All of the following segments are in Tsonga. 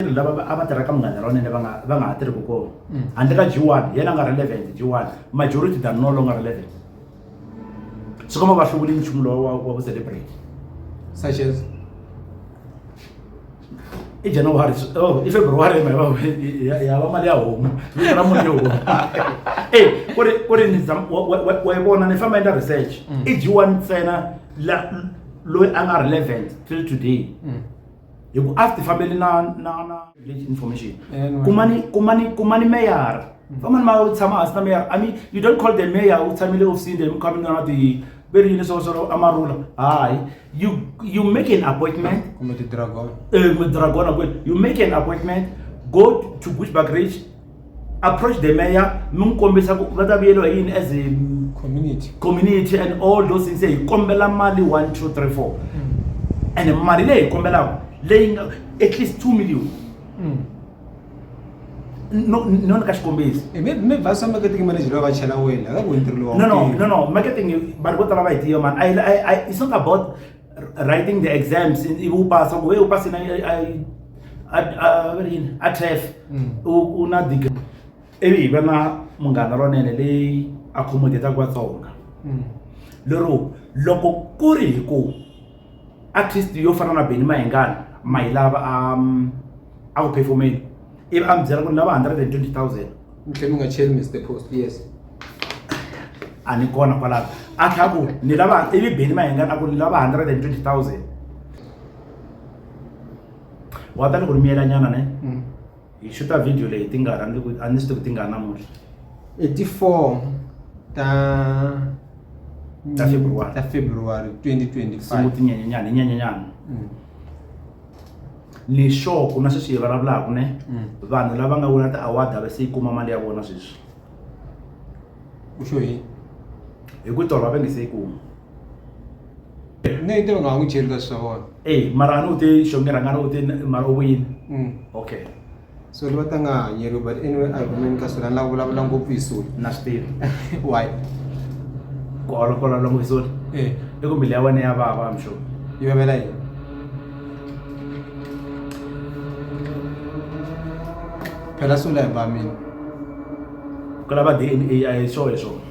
vatirhi lava a va tirha ka munghana ronene va nga va nga ha tirhi ku kona mm. handle ka g1 yena nga relevant g1 majority than no longer relevant swi komba va hluvuli nchumu lowa wa wa ku celebrate such as i january oh i february ma va ya va mali ya homu vito ra munhu yo homu e ku ri ku ri ni wa yi vona ni famba endla research mm. i g1 ntsena la loyi a nga relevant till today mm. hi ku a ti fambeli na na na village information kumani kumani kumani meyara mm. famani ma tshama hansi na meyara i mean you don't call the mayor u tshamile ofisini then coming na ti very yini swo swo amarula hayi you you make an appointment kumbe ti dragon eh dragon you make an appointment go to bushback ridge approach the mayor mi n'wi kombisa ku va ta vuyeriwa hi yini as a community community and all those things hi kombela mali one two three four and mali leyi hi kombelaka leyi nga at least two million no no ni ka xikombiso Eh, mi- mi vhasa marketing manager loyi va chela wena aka ku ntirho lowa no no no no marketing vanhu vo tala va yi tiva mani I, I, I, it's not about writing the exams in- ivi u pasa ku we u pasi na i- i- a- a- va ri yini? a tref Mm. u u na dig ivi hi va na munghana lonene leyi accommodataka vatsonga Mm. lero loko ku ri hi ku artist yo fana na beni mahingana ma hi lava um, a ku performeni ivi a mi byela ku ni lava 120 000 mtlhe mi nga cheli mr post yes a ni kona kwalaho a tlha ku ni lava ivi beni mayenga na ku ni lava 120000 wa ta ni ku ni miyela nyana ne mm. hi xuta video leyi ti nga ra ni a ni swi tivi ti nga namuntlha i ti four ta ta february ta february 2025 sungutinyanyanyana hi nyanyanyana mm. leswaku na sweswi hi vulavulaka ne mm. vanhu lava nga wina ti-award a va se yi kuma mali ya vona sweswi u xo yini hi ku tolo va va nge se yi kuma ne te va nga ha n'wi cheli ka swi swa vona e mara a ni u te xongerhangana u te mara u vuyini mm. okay so ni va ta nga hanyeriwi but anyway a hi kumeni ka sula ni lava vulavula ngopfu hi sula na swi tivi why ku olokola lomu hi sula eh. i ku mili ya wena ya vava mixo yi vavela yini phela sula hi vamini ku lava d n a a hi swo hi swona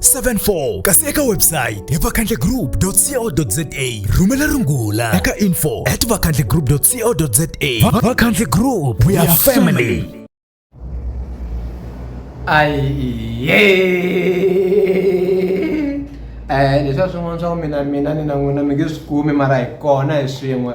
74 kasi eka website hi vakhandlegroup.co.za rhumela rungula eka info at vakhandlegroup.co.za vakhandle group we are family ayiye um leswi a swin'wana swa ku mina mina ni na n'wina mi nge swi kumi mara hi kona hi swin'we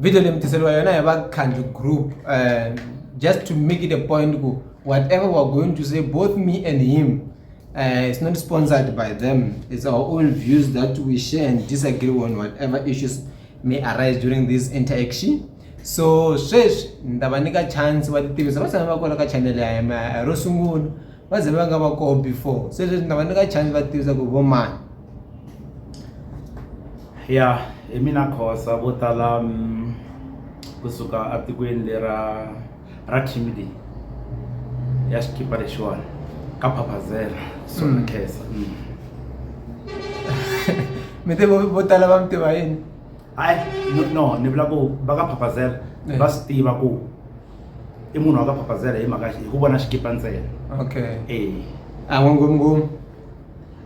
video leyi mi tiseriwa yona hi vakhandli group um just to make it a point ku whatever we're going to say both me and him uh, it's not sponsored by them it's our own views that we share and disagree on whatever issues may arise during this interaction so sweswi ni ta va nyika chance va titivisa va tshama va kona ka channel ya hina ro sungula va ze va nga va koho before se leswi ni ta va nyika chance va tivisa ku vo mani ya hi mina khosa vo tala mm, kusuka atikweni lera ra timidi ya xikipa lexiwani ka phapazela sona Mm. khesa mm. mi te vo vo tala va mi tiva yini hayi no ni vula ku va ka phapazela eh. va swi tiva ku i munhu wa ka phapazela hi mhaka hi ku vona xikipa ntsena okay eh a n'wi ngomngom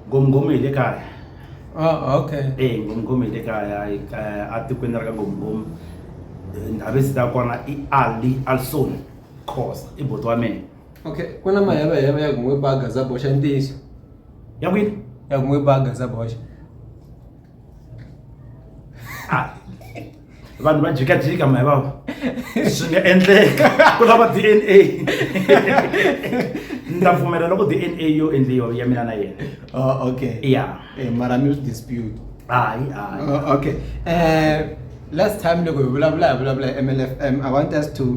ngomngom hi le kaya ah okay eh ngomngom hi le kaya a tikweni ra ka ngomngom ndhavizi ta kona i ali alson khosa i boti wa mina okay ku na mahevaheva ya ku n'wi baga za boxa ntiyiso ya kwini ya ku n'wi baga za boxa Ah. vanhu va jikajika mahi vava swi nga endleka ku lava d n a ni ta pfumela loko d n a yo endliwa ya mina na yena oh, okay ya eh, mara mi swi dispute hayi hayi oh, okay um last time loko hi vulavula hi vulavula hi m l f m i want us to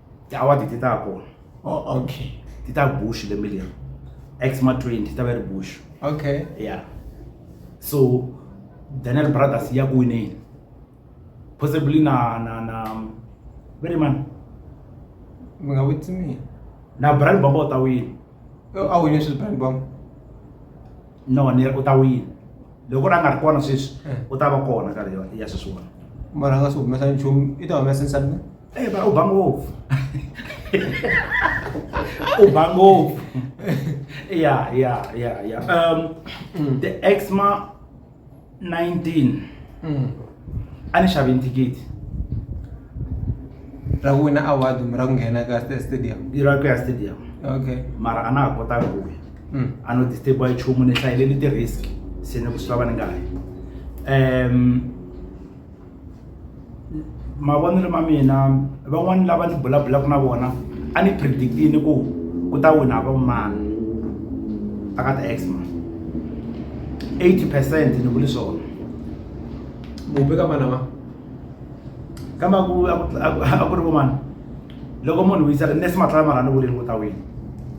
awa ti ta kona oh, okay ti ta bush lembe leri xma 20 ti ta va ri bush okay yeah so daniel brothers ya ku wineni possibly na na na very man mi nga witsi mina na brand bomba u ta wina a wine swi brand bomba no ni u ta wina loko a nga ri kona sweswi eh. u ta va kona ka leyo ya sweswiwani mara a nga swi humesa nchumu i ta humesa nsani e ba u ba ngopfu u ba ngopfu ya ya ya ya um mm. the exma 19 mm. ani xaventi gidi ra ku wina award kumbe ra ku nghena ka Sta- stadium i ra ku ya stadium okay mara a na ha kotanga ku wina Mm. a no disturbiwa hi nchumu ni hlayile ni ti-risk se ni ku swi lava ni nga hayi um mavonelo ma mina van'wani lava ni bulabulaka na vona a ni predictini ku ku ta wina va mani aka ti-exma 80 percent ni vuli swona mupe ka vana va kamba ku a ku ri vomani loko munhu u yisa nesi matlala mara ni vuleni kota wini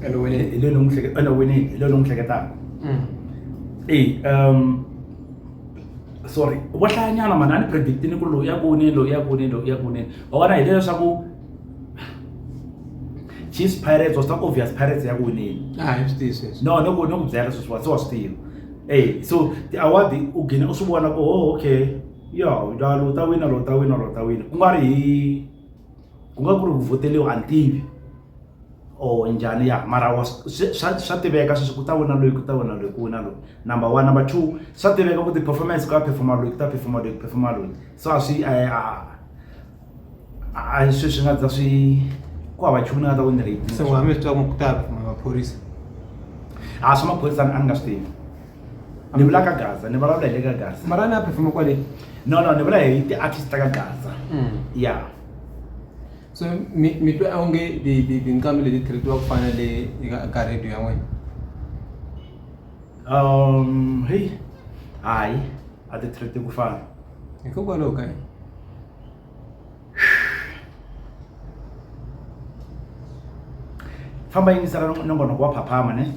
ene wini hi leyi ni n'wi hleke ene wini hi leyi ni n'wi hleketaka mm. e um sorry vo hlayanyana mani a ni predictini ku loyi ya kuni loyi ya kuni loyi ya kuni wa vona hi leswaku chiefs pirates was not obvious pirates ya ku winile no ni ku ni ku byela sweswiwa se wa swi tiva Hey, so the award u gina u swi vona ku oh okay ya la lo ta wina lo ta wina lo ta wina ku nga ri hi ku nga ku ri ku vhoteliwa a ni tivi or njhani ya mara wa swa swa tiveka sweswi ku ta wina loyi ku ta wina loyi ku wina loyi number one number two swa tiveka ku ti-performance ku ya perform-a loyi ku ta perform-a loyi ku perform-a loyi so a swi a a. hayi sweswi nga ta swi ku hava nchumu ni nga ta ku ni ri se wa mi twa ku ta kuma maphorisa a swa maphorisa a ni nga swi tivi ni vula ka gaza ni vulavula hi le ka gaza mara ni a phefuma kwale no no ni vula hi ti-artist ta ka gaza mm. ya so mi mi twa onge tinqambi leti treatiwa ku fana le ka radio ya n'wina um heyi hayi a ti treati ku fana hikokwalaho ka yini famba yingisela nongonoko wa phaphama ne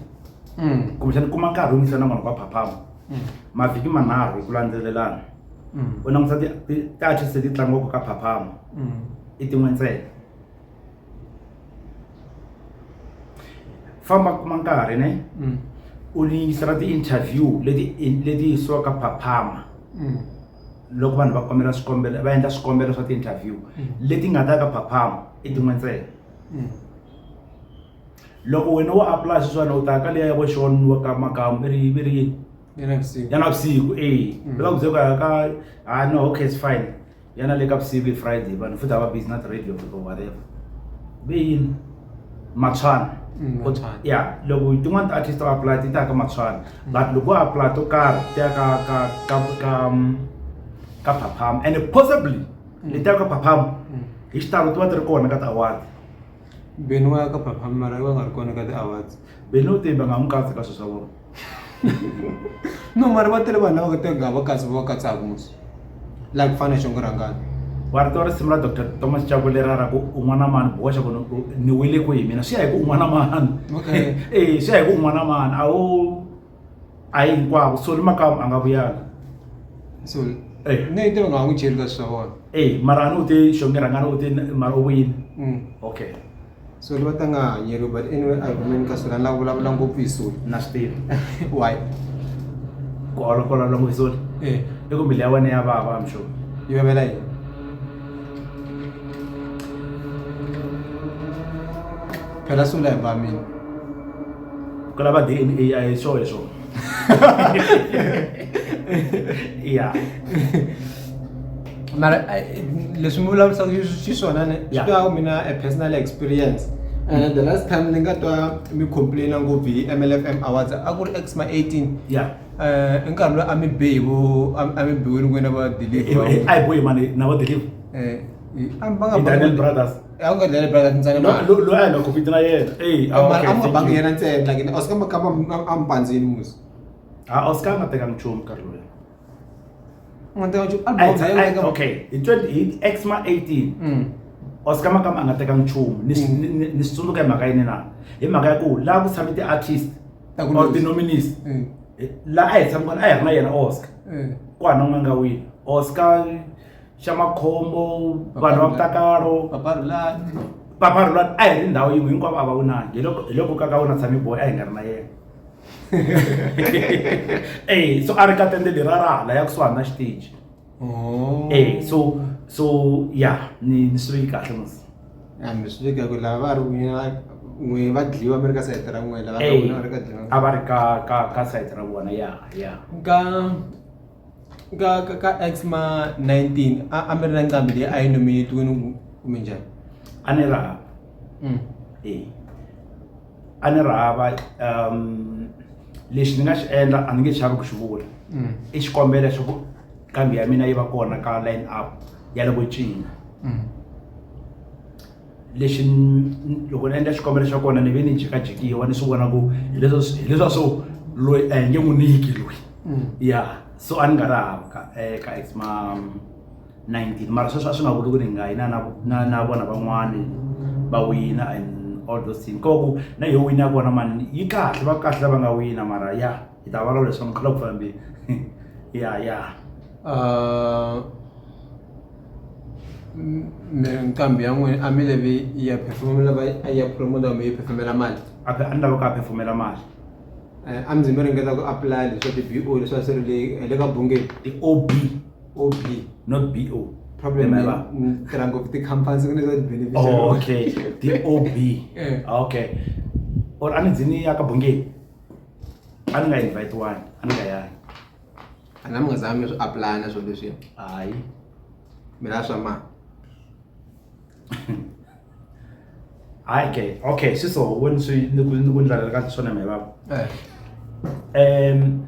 mm. kumbexani kuma nkarhi wu yingisela nongonoko wa phaphama mm. mavhiki manharhu hi ku landzelelana mm. u langusa ti-artist leti tlangiwaka ka phaphama i tin'we ntsena famba kuma nkarhi ne u yingisela ti-interview leti leti yisiwaka phaphama loko vanhu va kombela swikombelo va endla swikombelo swa ti-interview mm. leti nga ta ka phaphama i tin'we ntsena mm. loko wena wo apply sweswana u ta ka leya ya voxon wa ka makamu i ri i ri yini ya navusiku e mm. va ku byeka ya ka ha ah, no okay it's fine yana le ka vusiku i friday vanhu futhi a va busy na ti-radio fika whatever ve yini matshwana mm, ya loko tin'wana ti-artist va apply ti ta ka matshwana mm. but loko va apply to karhi ti ya ka ka ka ka mm, ka phaphama and possibly leti ya ka phaphama hi xitalo ti va ti ri kona ka ti-award beni wa ya ka phaphama mara va nga ri kona ka ti-awards beni u te va nga n'wi katsi ka swilo swa vona no mari va tele vanhu lava teka va katsi va katsaka musi la ku fana xongo rangani wa rito risimu ra dr thomas chavo lera ra ku un'wana mani boxa ku ni wile ku hi mina swi ya hi ku un'wana mani e swi ya hi ku un'wana mani a wu a yi hinkwavo soli makamu a nga vuyanga so eh. ne tiva nga n'wi cheli ka swi swa vona e mara a ni u te xonge rangani u te mara u vuyile mm. okay soli va ta nga hanyeriwi but anyway a hi kumeni ka soli a ni lava vulavula ngopfu hi soli na swi tivi why ku olokola lomu hi soli eh. i ku mbilu ya wena ya vava mixo yi vavela yini phela sula hi vamini ku lava d n a a hi swo hi swo ya mara eh, leswi mi vulavurisaka swi swona ne swi twa mina a personal experience and eh, the last time ni nga twa mi complaina ngopfu hi mlfm awards a ku ri exma 18 yeah eh i nkarhi loyi a mi be hi vo a mi biwile ku na va deliver eh, eh, a hi boyi mani na va deliver eh a mi nga Daniel brothers a nga Daniel brothers ntsena lo lo lo a nga compete na yena eh a ah, nga bangi yena ntsena like oscar makamba a mpandzini musi a ah, oscar nga teka nchumu nkarhi loyi okay hi 20 hi x ma 18 mm. oscar makama a nga teka nchumu ni mm. swi tsundzuka hi mhaka yini na hi mhaka ya ku laha ku tshame ti-artist or ti-nominis mm. eh, laha a hi tshami kona a hi ri na yena oscar ku hana n'wana nga wini oscar xa makhombo vanhu va vutakalo paparulani a hi ri ndhawu yin'we hinkwavo a va wu nangi hi loko ka ka wena tshame boy a hi nga ri na yena e so a ri ka tende leri a ra hala ya kusuhani na xiteji oh. e so so ya ni ni swi veki kahle mos a mi swi veki ku lava va ri n'wina n'we va dliwa mi ri ka sayiti ra n'wina lava va ri ka dliwa a va ri ka ka ka sayiti ra vona ya ya ka ka ka ka xma 19 a a mi ri na nqambi leyi a yi nominetiwini kumbe njhani a ni ri mm. e a ni ri hava um lexi ni nga xi endla a ni nge xavi ku xi vula mm. i xikombelo xa ku kambi ya mina yi va kona ka line up ya loko cina mm. lexi loko ni endla xikombelo xa kona ni ve ni jikajikiwa ni swi vona ku hileswa hileswa swo loyi a hi nge n'wi niki loyi mm. ya so a ni nga ri hava ka eh, ka ex ma 19 mara sweswo a swi nga vuli ku ri nga yina na na vona van'wani va wina and all those things koku na yo wina ya kona mani yi kahle va kahle lava nga wina mara ya yi ta vulavula leswaku mukhala ku fambi ya ya nqambi ya n'wina a mi levi ya phefumula va ya promote mi yi phefumela mali a phe- a ni lava ka phefumela mali Eh, a mi ze mi ringeta ku apply leswa ti-bo leswa swi ri le- le ka bungeni i ob ob not bo problem Am I right? ni tirha ngopfu ti-company ku ne za ti-beneficiary Oh, okay. The OB. Eh. Okay. Or anizini yakabhungeni. a ni nga invitiwani a ni nga yangi a na mi nga zanga mi swi apply na swilo leswiya hayi mi lava swa mali hayi ke okay swi so wena swi ni ku ni ku ndlalela ka swona mi baba Eh, um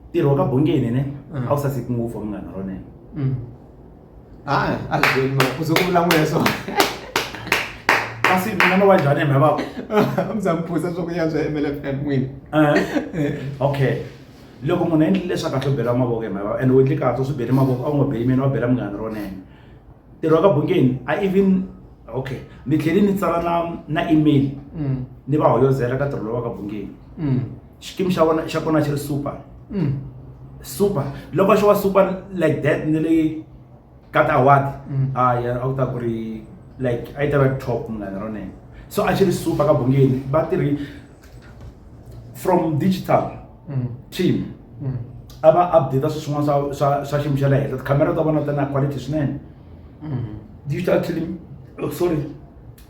ntirho wa ka bongeni ne Mm. a wu saseki ngopfu wa munghana ronene mm. hayi azweni ma uze kuvula n'weso kasi mina no va njhani hemhe vava mzamuphuza swa ku ya swa mlfm n'wini okay loko munhu a endlile leswaku a swo bela mavoko hemhe vava and u endle kahle u swi bele mavoko a wu nga beli mina wa bela munghana ronene ntirho wa ka bungeni a even okay ni tlhele ni tsala na na email mm. ni va hoyozela ka ntirho lowa ka bungeni mm. xikimi xa vona xa kona xi ri super mm. super loko xo wa super like that ni le ka tiaward mm. a ah, ya a ku ta ku ri like a yi ta va top munghana ronene so a xi ri super ka bongeni va tirhi from digital mm. team a va update swilo swin'wana swa swa swa xiyimo xa le henhla tikhamera ta vona ta na quality swinene digital team oh, sorry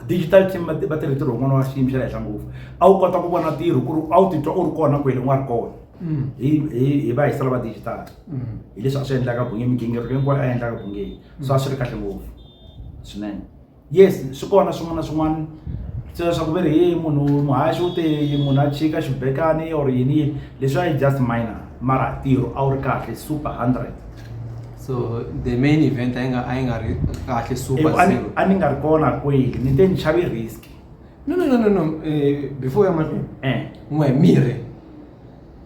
digital team va va tirhe ntirho wun'wana wa xiyimo xa le henhla ngopfu a wu kota ku vona ntirho ku ri a wu titwa u ri kona kwele u nga ri kona mm. hi hi hi va hi sala va digital mm. hi leswi a swi endlaka bunge migingiriko hinkwayo a endlaka bungeni mm. so a swi ri kahle ngopfu swinene yes swi kona swin'wana na swin'wana se leswaku ve ri hi munhu muhaxi u te munhu a chika xibekani or yini leswi a yi just minor mara ntirho a wu ri kahle super hundred so the main event a yi nga a yi nga ri kahle super a ni nga ri kona kweli ni te ni xave risk no no no no no eh, before ya mahlweni eh. n'we mirhi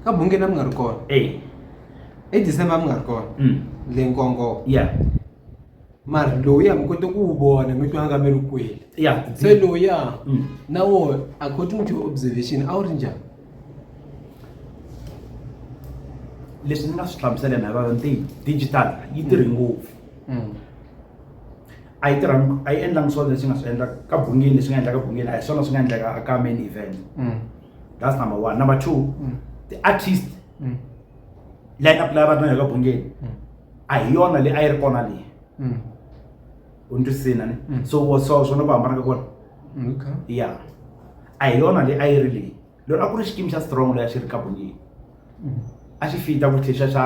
ka bungeni a mi nga ri kona eh. e december a mi nga ri kona mm. le nkongo ya mara loyi a mi kote ku wu vona mi twa nga mi ri kweli se loyi a mm. na wona according to observation a wu ri njhani leswi ni nga swi hlamuseleni hi rona ntiyi digital yi tirhi mm. ngopfu mm. a yi tirha a yi endlangi swona leswi nga swi endla ka bungini leswi nga endla ka bungini a hi swona swi nga endleka ka main event mm. that's number one number two the artist line up lava va ri na yo ka bungeni a hi yona leyi a yi ri kona leyi u ni twisina ni Mm. so wa- so swona ku hambana ka kona okay ya a hi yona leyi a yi ri leyi lero a ku ri xikimi xa strong leyi a xi ri kabonini Mm. a xi fita ku tlhe xa xa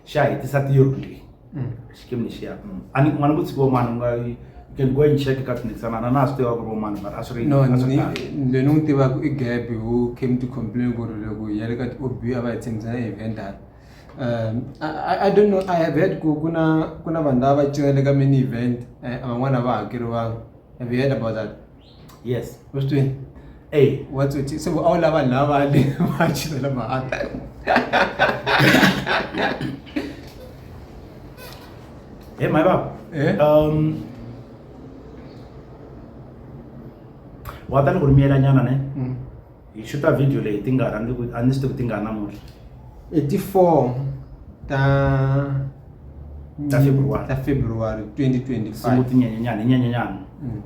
xa hetisa theory leyi Mm. xikimi lexiya a ni kuma ni vutshiki van'wana u nga you can go and check ka tshindikisana na na swi tiva ku ri van'wana mara a swi ri no a swi ri kahle. ni ni n'wi tivaka i gabi who came to complain ku ri loko hi ya le ka ti-ob a va hi tshembisa na eventara I don't know I have heard ku ku na ku na vanhu lava va cinela ka mini event eh, van'wana a va hakeriwanga have you heard about that yes u swi twini Hey, what's it se a wu lava lava le va cinela mahata hey, my baba. Eh? Um, wa ta ni ku ri miyelanyana ne Mm. hi xuta video leyi ti nga rhandzi ku a ni swi tivi ti nga namuntlha i ti four ta ta february ta february 2025 tinyenyenyana hi nyenyenyana mm.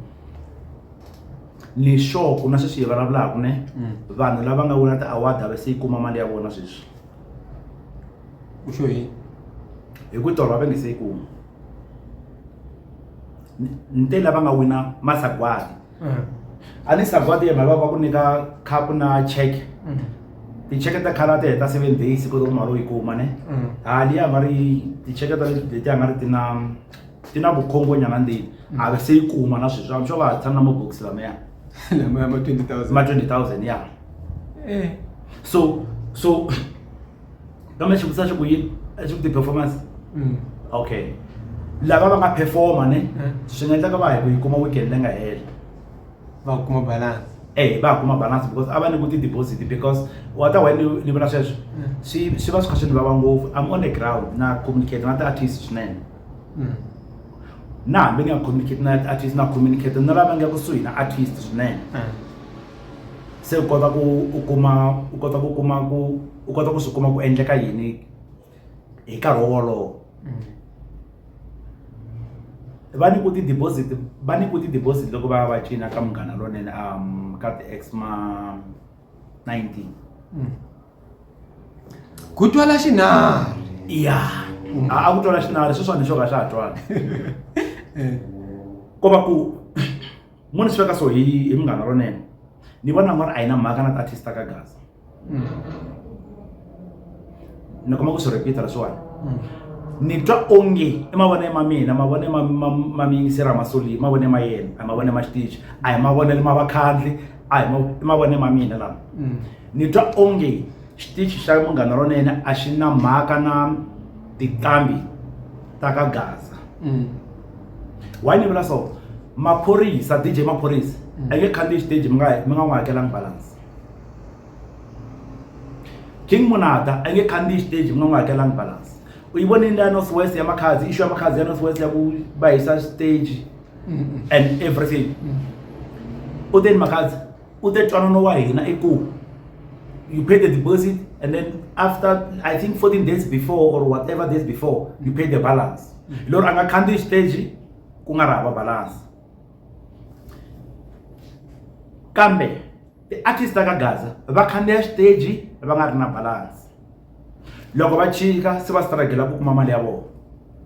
leswaku na sweswi hi vulavulaka ne mm. vanhu lava nga wina ti-award a va se yi kuma mali ya vona sweswi u xo yini hi ku tolo va va nge se yi kuma ni te lava nga wina masagwadi mm. a ni sa kwati yena va ku nyika khapu na check mm. ticheke ta khala ti heta seven days ku ri mali u yi kuma ne mm. a liya nga ri ticheke ta leti a nga ri ti na ti na vukhongonyana ndini a ve se yi kuma na sweswi am sure va ha tshama na mabokisi lameya ma twenty thousand ya eh. so so kambe xivutiso a xi ku yini a xi ku ti-performance mm. okay lava va nga performa ne eh. swi nga endlaka va hi ku yi kuma weekend leyi nga hela va kuma balance e va kuma balance because a va ni ku ti-deposit because wa ta wena ni vona sweswo eh. swi swi va swi kha swi ni vava ngopfu i'm on the ground na communicate na ti-artist swinene mm. na hambi ni nga communicate na artist na communicate na lava nga kusuhi na artist swinene eh. se u kota ku u kuma u kota ku kuma ku u kota ku swi kuma ku endleka yini hi nkarhi wolowo mm. va ni ku ti-deposit va ni ku ti-deposit loko va ya va cina ka munghana lonene um ka ti-ex ma 19 mm. ku twala xinari ya mm. a ku twala xinari sweswani xo ka xa ha twani eh. ko va ku mo ni swi veka so hi hi munghana lonene ni vona nga ri a yi na mhaka na ti-artist ta ka gaza mm. ni kuma ku swi repeat-a leswiwani mm. ni twa onge i mavonelo ma mina mavonelo ma miyingiseri a ma soli mavonelo ma yena a mavonelo ma xitichi a hi mavonelo ma vakhandli a hi i mavonelo ma mina lama mm. ni twa onge xitichi xa munghana lonene a xi na mhaka na tinqambi ta ka gaza why ni vula so maphorisa dj maphorisa a nge khandziyi xiteji mi nga mi nga n'wi hakelanga balance king munata a nge khandziyi xiteji mi nga n'wi hakelanga balance u yi vonile leya north west ya makhadzi issue ya makhadzi ya north west ya ku va hisa xiteji and everything u te ni makhadzi u te twanano wa hina i ku you pay the deposit and then after i think 14 days before or whatever days before you pay the balance mm. lero a nga khandziyi xiteji ku nga ri hava balance kambe ti-artist ka gaza va khandziya xiteji va nga ri na balance loko va chika se va stragela ku kuma mali ya vona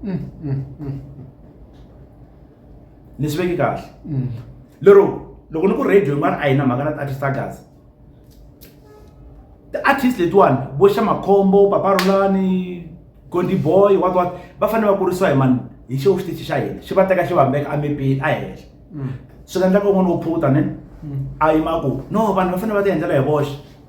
mm, mm, ni swi veki kahle mm. lero loko ni ku radio yin'wana a yi na mhaka na ti-artist ta gaza ti-artist letiwani vo xa makhombo paparulani gondi boy wat wat va fanele va kurisiwa hi mani hi xo xitichi xa hina xi va teka xi vambeka amepeni a henhla mm. swi nga endlaka un'wana wo phuta ne mm. a yi ma ku no vanhu va fanele va ti endlela hi voxe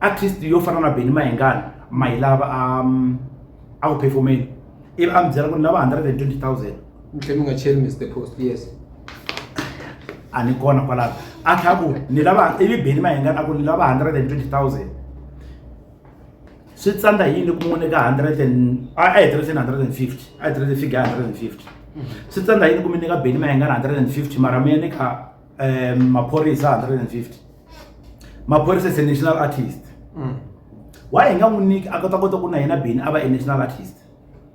artist yo fana na Benny Mayengani mayilava a um, a ku performeni ivi a mi byela ku ni lava 120000 mi tlhe mi nga cheli Mr Post yes a ni kona kwalaho a tlha ku ni lava ivi Benny Mayengani a ku ni lava 120000 swi tsandza yini ku n'wini ka 100 and a a hetelele 150 a hetelele fika 150 swi tsandza yini ku mi nyika Benny Mayengani 150 mara mi ya ni kha um maphorisa 150 maphorisa is a national artist mm. why hi nga n'wi niki a kota kota ku na hina bini a va e national artist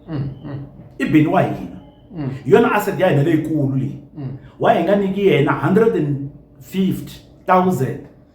mm, mm. i bini wa hina mm. yona asset ya hina leyikulu leyi mm. why hi nga niki yena 150 000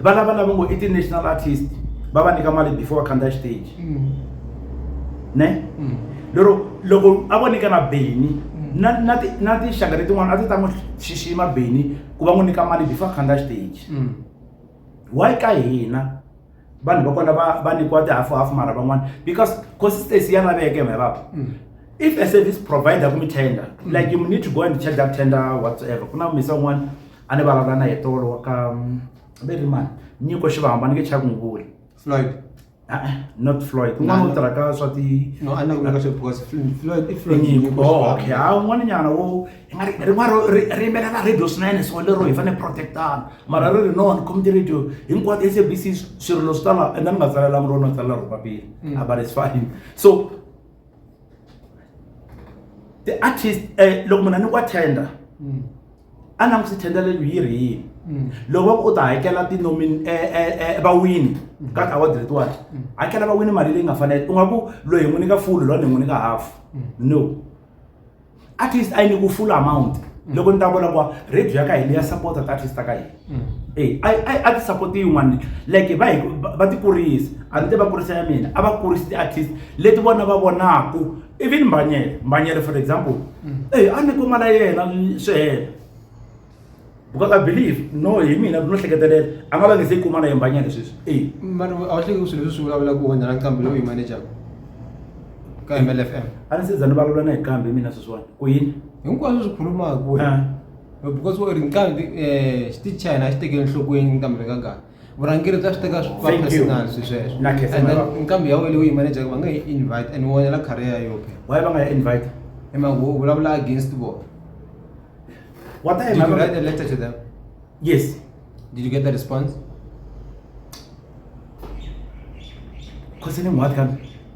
va lava lava ngo i ti-national artist va va nyika mali before va khandziya xiteji mm. ne mm. lero loko a vo nyika na beni mm. na na na tinxaka letin'wana a ti ta n'wi xixima beni ku va n'wi nyika mali before a khandziya xiteji why ka hina vanhu va kona va va nyikiwa tihafu hafu mara van'wana because consistency ya laveke mhe vava if a service provider kumi tender mm. like you need to go and check that tender whatsoever ku na misa un'wana a ni vulavula na hi tolo wa ka mm, ve ri mani nyiko xivamba ni nge chava ku n'wi vula floyd Ah, not floyd Na- un'wana u tirha ka swa ti no a ni ku veka swi because Fl- floyd i floyd nyiko Nyiko, oh, okay ha un'wana nyana wo i nga ri- rin'wana ro- ri ri yimbelela radio swinene so lero hi fanele protectana mara ri ri no ni khome ti-radio hinkwato sabc swirilo swi tala and a ni nga tsalelangi rona ni tsalela ro papila Mm. Ah, but it's fine so ti-artist um loko munhu a ni ku attenda Mm. a na musi thendelelo yi ri yini mm. loko va ku u ta hakela tinomini e, e, e, vawini mm. ka award letiwani mm. hakela vawini mali leyi nga fanele u nga ku loyi n'wi nyika fulu loyi ni n'wi nyika half no at least a yi ni ku full amount loko ni ta vona ku radio ya ka hina ya support-a ti-artist ta ka hina eyi a a a ti support-i yin'wana like va hi va ti kurisa a ni te va kurisa ya mina a va kurisi ti-artist leti vona va vonaku even mbhanyele mbhanyele for example eyi a ni kuma la yena swi hela because i believe no hi mina no hleketelela a nga va nge se yi kuma na ye mbhanyele sweswi eyi mani a wu hleki swilo leswi swi vulavula ku wena na nqambi lowu yi manager ka mlfm a ni se za ni vulavula na hi kambe mina sweswiwani ku yini hinkwaswo swi khulumaku wena Ah. because u ri nqambi um xi tichina a xi tekeli enhlokweni nqambi ri ka ngani vurhangeri bya swi teka personal swi sweswo and then nqambi ya wena u yi manager va nga yi invite and wonela career ya yope why va nga yi invite hi mhaka u vulavula against vona what time you write a letter to them yes did you get the response concerning what country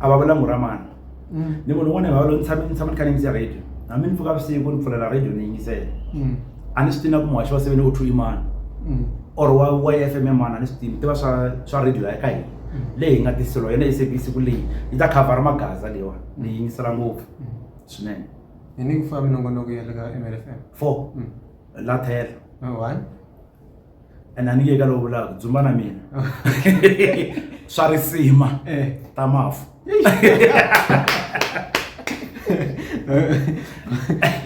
a va vula muramana mm. ni munhu un'wana hi vavalo ni tshame ni tshama ni kha ni yingise radio hambi ni pfuka vusiku ni pfulela radio ni yingisela mm. a ni swi tina ku muhaxi wa seven o two imana mm. or wa wa f m emana a ni swi tini tiva swa swa radio ya ka hina leyi hi nga tiselo yona sabc siku leyi yi ta khavhara magaza leyiwa ni yingisela ngopfu swinene ni ni ku famba minongonoko ya le ka mlfm four la thela one and a ni yeka lowu vulaka dzumba na mina swa risima eh. ta mafu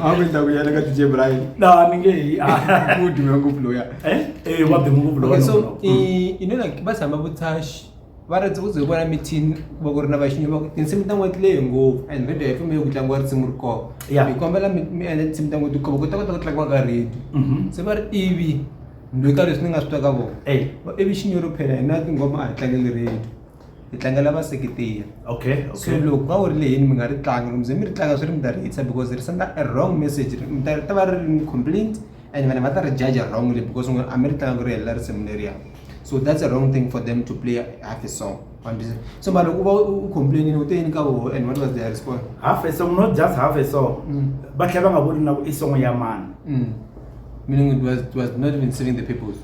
a ku ndhawu ya le ka dj brian na ni nge hi mudume ngopfu loya eh, eh wa dume ngopfu loya so you know like va tshama vutshasha va ri ndzi ku ze hi vona mithini ku va ku ri na vaxinyama va ku tinsimu ta n'weti leyi ngopfu and radio yi fambile ku tlangiwa risimu ri kona Ya. hi kombela mi mi endla tinsimu ta n'weti kova ku ta kota ku tlangiwa ka radio Mhm. se va ri ivi ni loyi ka leswi ni nga swi twa ka vona Ey, va ivi xinyoro phela hina tinghoma a hi tlangeli radio hi tlangela vaseketeri okay, so okay. loko va wu ri leyini mi nga ri tlanga loko mi ze mi ri tlanga swi ri mi ta ri hitisa because ri senda a wrong message ri mi ta ri ta va ri ri ni complaint and vanhu va ta ri jaja wrongly because n'we a mi ri tlanga ku ri helela risimu leriya so that's a wrong thing for them to play half a song so mara uba ucomplainini uteni ka woho and what was their response half a song not just half a song mm. ba tlhe ba nga boni nako i song ya mani mm. meaning it was, it was not even serving the peoples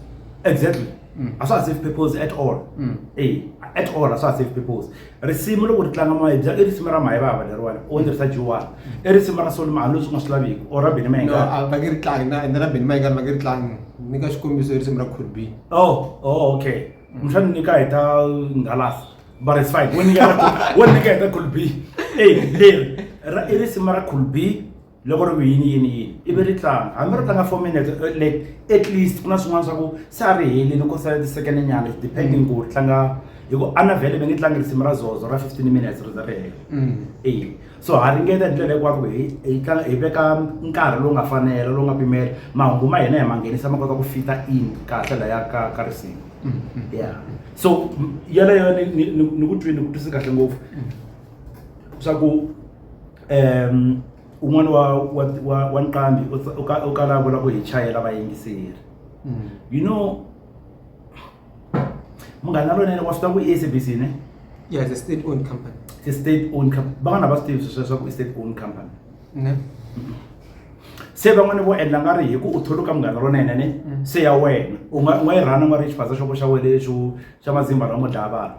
exactly mm. a swa ha serve peoples at all mm. e at all a swa ha serve peoples risimu loko ri tlanga moya bya i risimu ra mayivava leriwani u ni tirhisa jiwani i risimu ra soli mahani leswi nga swi laviki or ra bini mayingani va nge ri tlangi na ende ra bini mayingani va nge ri tlangi ni ka xikombiso i risimu ra could be oh oh okay muxana ni ka hi ta ngalasa but it's fine wo nyika wo nyika hi ta could be ey leri ra i risimu ra could be loko ri ku yini yini yini ivi ri tlanga hambi ri tlanga four minutes eh, like at least ku na swin'wana swa ku se a ri helini ku sale ti-second nyana depending mm. ku ri tlanga hi ku ana vhele mi nge tlangi risimu ra zozo ra fifteen minutes ri za ri hela mm. e so ha ringeta hi ndlela hikwako ku hi tlanga hi veka nkarhi lowu nga fanela lowu nga pimela mahungu ma hina hi ma nghenisa ma kota ku fita in kahle laya ka ka risimu mm-hmm. ya so yaleyo ni ku twi ni ku twisi kahle ngopfu mm. swa ku um un'wana wa wa wa wa nqambi u tsa- u ka- u kala a vula ku hi chayela vayingiseri you know munghana lonene wa swi tiva ku i sabc ne Yeah, it's a state owned company. i state owned company van'wana va swi tivi sweswo leswaku i state owned company Ne? se van'wani vo endla nga ri hi ku u tholuka munghana lonene ne se ya wena u nga u nga yi rhana u nga ri xifandza xo xa wena lexo xa mazimba ra mo dlaya vanhu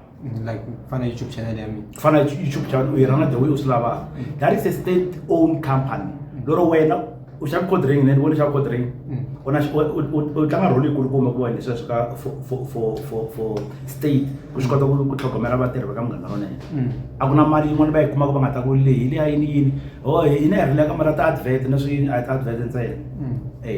like kufana youtube channel yami kufana youtube channel uyirana the way u swi lavaka mm. that is a state own company mm. lero wena u xava code ring ne ni vona xava code ring mm. u na u tlanga role yikulukumba ku wena leswi ka for state ku swi kota ku tlhogomela vatirhi va ka munghana wa nene a ku na mali yin'wana va yi kumaka va nga ta ku leyi leyi a yini yini o oh, yini a hi rileka mali ta advert na swi a hi ta advert ntsena e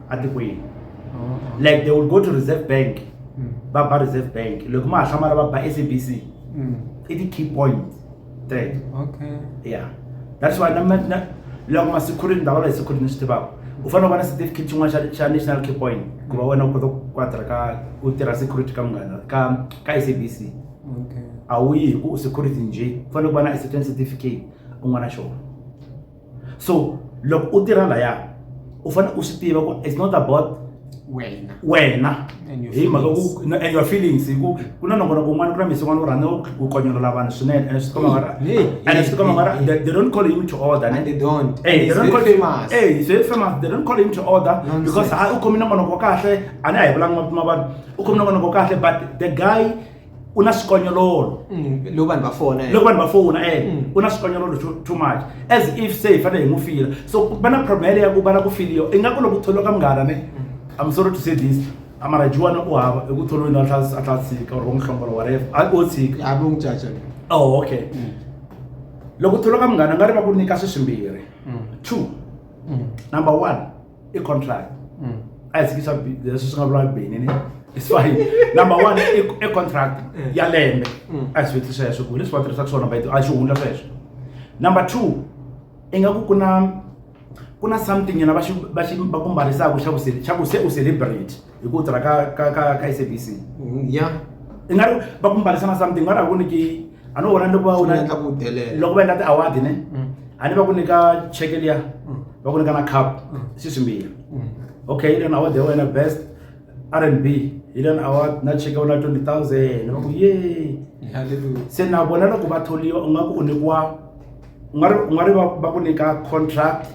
atikweni like they will go to reserve bank va ba reserve bank loko ma ha hlamala va ba sabc i ti-key points teto okay yeah that's why na na loko ma-security ndavula hi security ni swi tivaka u fanele u va na certificate xin'wana xa- xa national key point ku va wena u kota ku quadra ka u tirha security ka munghana ka ka sabc okay a wu yi hi ku u security njhe u fanele ku va na certain certificate un'wana na xona so loko u tirha laya u fanele u swi tiva ku it's not about wena wena hi mhaka ku and your feelings hi ku ku na nongona kun'wana ku na misi n'wana u rhandza ku konyolola vanhu swinene and swi tikoma mara and swi tikoma mara they don't call him to order ne they don't hey they don't call him hey he's very famous they don't call him to order because ha u khomile nongonoko wa kahle a ni a hi vulanga mavito ma vanhu u khomile nongonoko wa kahle but the guy u na xikonyololo mm, loko vanhu va fona eh. loko vanhu va fona e eh, mm. u na xikonyololo too much as if se hi fanele hi n'wi fila so va na problem yaleyo ya ku va na ku filiwa ingaku loko tholiwa ka munghana ne mm. i'm sorry to say this amara juwana u hava i ku tholiweni a tlha tshika or va n'wi hlongola wareva a o tshika a vo n'wi caca oh okay loko tholiwa ka munghana nga ri va ku nyika swi swimbirhi two number one i contract mm. a hi sikisa leswi swi nga vula bini ni swahili number one i contract mm. ya lembe mm. a hi swi vutisa sweswo ku leswi va tirhisaka swona va a xi hundla sweswo number two ingaku ku na ku na something yena va xi va xi va ku mbarisaka xa ku se xa ku se u celebrate hi ku tirha ka ka ka ka SABC mm, ya i nga ri va ku mbalisana something va ri ku niki a no vona loko va wona endla ku delela loko va endla ti award ne mm. a ni va ku nyika check liya mm. va ku nyika na cup si swimbirhi okay hi lena award ya wena best R&B hi lena award na check ya wena 20000 va ku yay se na vona loko va tholiwa u nga ku u nyikiwa u nga ri u nga ri va va ku nyika contract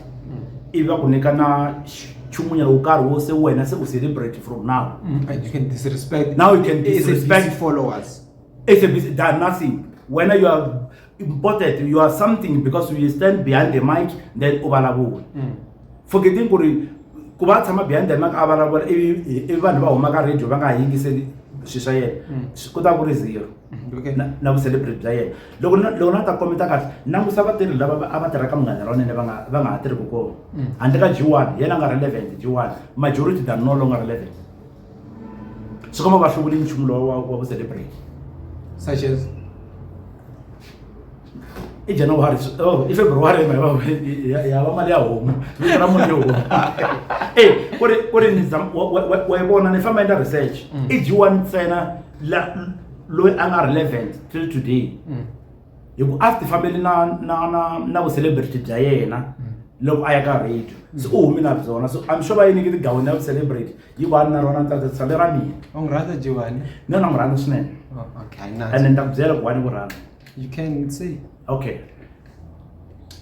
ivi va ku nyika na xi- nchumunyana wo karhi wo se wena se u celebrate from now Mm, and you can disrespect Now you can SABC disrespect- followers SABC done nothing. When you are important, you are something because you stand behind the mic, then ubalabul. forgetting ku ri ku va tshama behind the mic a vulavula i vanhu va huma ka radio va nga ha yingiseli swilo swa yena mm. ku ta ku ri zero mm, na vucelebrate bya yena loko loko na ta komenta kahle langusa vatirhi lava a va tirha ka munghana ra wunene va nga va nga ha tirhiki kona mm. handle ka g one yena a nga relevant g one majority than no longer relevant swi komba va hluvuli nchumu lowa wa vucelebrate such as i january oh i february mara ya ba mali ya homu ni ra mali ya homu eh kore kore ni zam wa bona ni famba enda research mm. i jiwa ntsena la loyi a nga relevant till today mm. hi ku a ti fambeli na na na na vu celebrity bya yena mm. loko a ya ka radio se u humi na byona so i'm sure va yi niki tigawini ya vu celebrity yi va ni na rona ntsatsa tshale ra mina u n'wi rhandza jiwani ni yona n'wi rhandza swinene oh, and ni ta ku byela ku wani ku rhandza you can say okay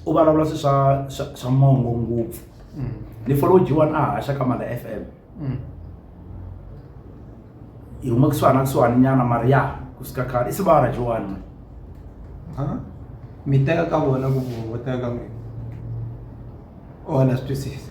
u vulavula swi swa swa mongo ngopfu mm. ni follow jiwani a haxa ka mala f m mm. yi huma kusuhana kusuhani nyana mari ya ku suka khale i sivara jiwani mi teka ka vona ku vo teka ka n'wina o na swi twisisa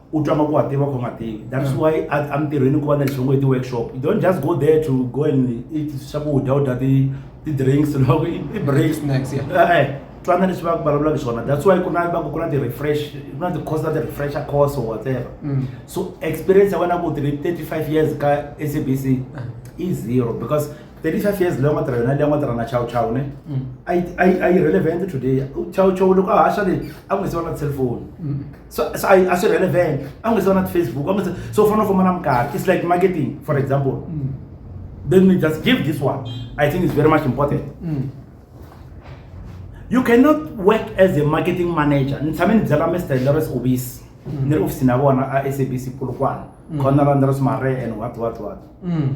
u twa nga ku wa tiva kho nga tivi that's why a mintirhweni ku va na lexi ngo i ti-workshop you don't just go there to go and eat swakudya u dya ti-drinks loko i break snacks yeah. Eh, eh. twana leswi va vulavulaka swona that's why ku na va ku ku na ti-refresh ku na ti-course ta ti-refresher course or whatever mm. so experience ya wena ku tiri 35 years ka s b c ah. i zero because 35 years leyi nga tirha yona leyi nga tirha na chow chow ne mm. a yi relevant today chow chow loko a haxa leyi a ku nga se va na cellphone mm. so so a a swi relevant a wu nge se va na ti-facebook a wu nge se so u fanele u famba na minkarhi it's like marketing for example mm. let me just give this one i think it's very much important mm. you cannot work as a marketing manager ni tshame ni byela mr lores obis mm. ni ri ofisini ya vona a sabc polokwana mm. conal andres mare and what what what mm.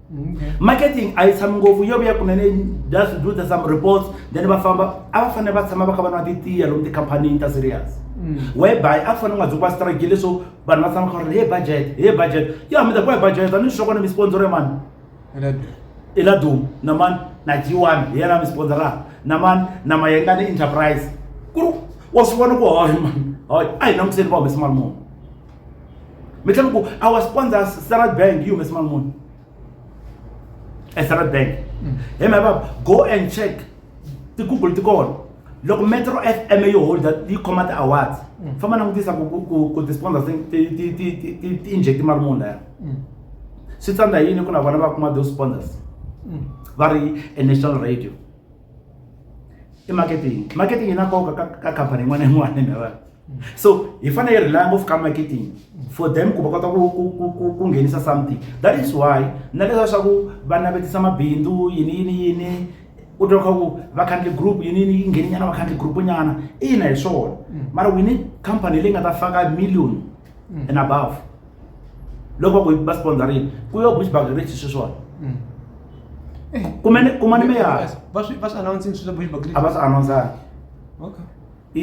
Okay. marketing a yi tshami ngopfu yo vuya kunene just do the some reports then va famba a va fanele va tshama va kha va nwa titiya lomu tikhampanini ta serious whereby a fanele nga dzokiwa strike leswo vanhu va tshama kha ri he budget he budget yo hambi ta ku hi budget a ni swi kona mi sponsor mani i la dum na mani na g1 hi yena mi sponsora na mani na mayengani enterprise ku ri wa swi vona ku hohe mani hoye a hi langutiseni va humesa mali muni mi tlhela ku our sponsor standard bank yi humesa mali muni e standard bank mm. hi mhaka go and check ti-google ti kona loko metro f m yi holda yi khoma ti-awards mm. famba langutisa ku ti-sponsor ti-inject mali muni laya mm. swi tsandza yini ku na vona va kuma those sponsors va ri e national radio i marketing marketing yi na nkoka ka khampani yin'wana na yin'wana hi mhaka so hi fanele hi rely ngopfu ka marketing for them ku va kota ku ku ku ku ku nghenisa something that is why na leswa swa ku va navetisa mabindzu yini yini yini u twa kha ku vakhandli group yini yini yi ngheni nyana vakhandli group nyana ina hi swona mara we need company leyi nga ta faka million and above loko va ku va sponsorini ku yo bush bagrich sweswona kumane kumane meyara va swi va swi announcing swilo bush bagrich a va swi announceangi okay i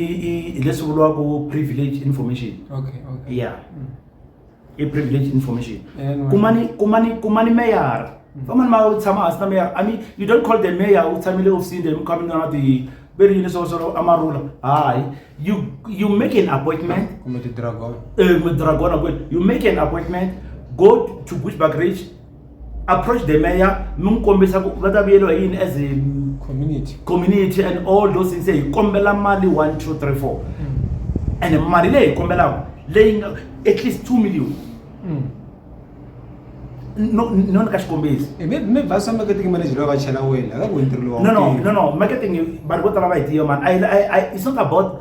i leswi vuriwaka privilege information okay okay yeah mm. i privilege information kumani kumani kumani meyara mm. famani ma u tshama hansi na meyara i mean you don't call the mayor u tshamile ofisini leyi mi kha mi nga na ti ve ri yini swo swo amarula hayi you you make an appointment kumbe tidragon eh kumbe dragona kwini you make an appointment go to bushback ridge approach the mayor mi n'wi kombisa ku va ta vuyeriwa hi yini as a community community and all those things hi kombela mali one two three four and mali leyi hi kombelaka leyi nga at least two million Mm. no no ni ka xikombiso Eh, mi- mi va swa marketing manager loyi va chela wena akaku ntirho lowa no no no no marketing vanhu vo tala va yi tiva mani I- I- I- it's not about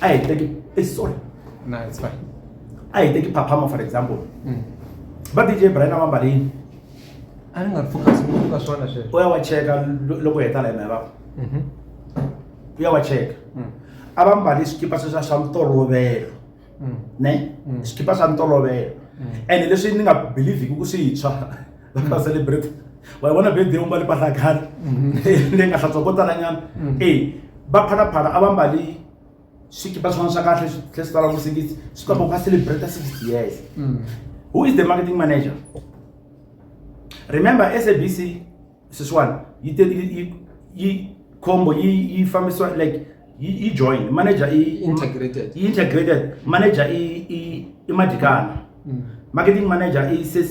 a hi teki eh, sorry no it's fine a hi teki phaphama for example mm. va dj brian a va mbalini a ni nga ri focus ngopfu ka swona sweswo u ya wa cheka loko heta la hina va mhm. u ya wa cheka mm. a va mbali swikipa sweswa swa mitolovelo mm. ne swikipa swa mitolovelo ene leswi ni nga believhiki ku swi tshwa vana va celebrate wa vona birthday u mbale mpahla ya khale leyi nga hlantswa ko talanyana e va phalaphala a va mbali swikipa swin'wana swa kahle tlhe swi tala ku sikisi swi kamba ku va celebrate sixty years who is the marketing manager remember sabc sweswiwani yi te yi- yi- yi khombo yi yi fambisiwa like yi yi join manager i Integrated. i integrated manager i i i madikana marketing manager i sis